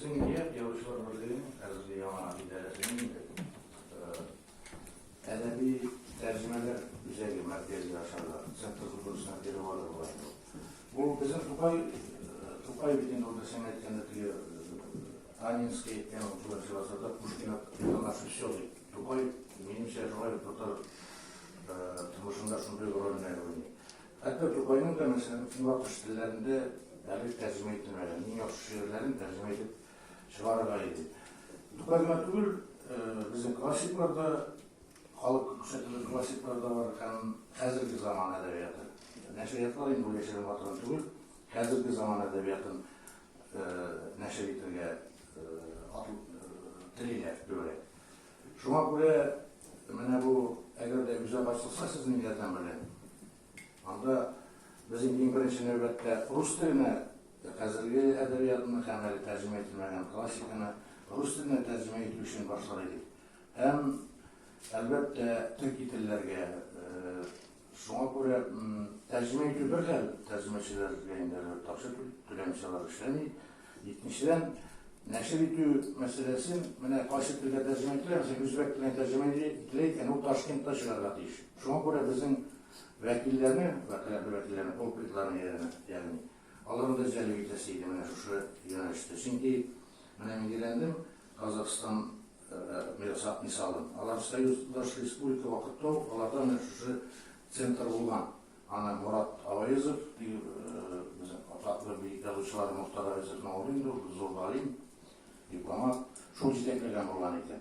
Безнең ният Язучылар берлегенең хәзерге яңа идарәсенең инде әдәби тәрҗемәләр үзәге мәркәзе ашарга, центр культурасына кире барды була инде. Бу безнең Тукай Тукай бит инде урта сәнгать җәнлекле Анинский әйткән укучылар чыгасада Пушкина Пушкина все дип. Тукай минемчә шулай татар тормышында шундый рольне уйный. Хәтта Тукайның да, мәсәлән, Көнбатыш телләрендә әле тәрҗемә ителмәгән иң яхшы шигырьләрен тәрҗемә итеп чыгарырга иде. Тукай гына түгел, безнең классиклар да, халык күрсәтелгән классиклар да бар һәм хәзерге заман әдәбияты. Нәшриятлар инде яшерен батырын түгел, хәзерге заман әдәбиятын нәшер итергә телиләр, дөрә. Шуңа күрә менә бу, әгәр дә үзәк ачылса сезнең ярдәм белән, анда безнең иң беренче нәүбәттә рус теленә хәзерге әдәбиятны һәм әле тәрҗемә ителмәгән классиканы рус теленә тәрҗемә итү өчен башлар идек. Һәм, әлбәттә, төрки телләргә, э, Шуңа күрә тәрҗемә итү бер хәл, тәрҗемәчеләр бәяләре ташып түләмчеләр эшләми. Икенчедән, нәшер итү мәсьәләсен менә кайсы телгә тәрҗемә ителә, мәсәлән, үзбәк теленә тәрҗемә ителә икән, ул Ташкентта чыгарга тиеш. Шуңа күрә безнең вәкилләрне, вәкаләтле вәкилләрне, пульпитларны ягъни, аларны да җәлеп итәсе иде менә шушы юнәлештә. Чөнки менә мин өйрәндем, Казахстан Ясап мисалын. Алар союздаш республика вакытта ук аларда менә шушы центр булган. Аны Морат Аваезов, безнең атаклы бөек язучылар Мохтар Аваезовның улы инде ул, зур галим, дипломат, шул җитәкләгән булган икән.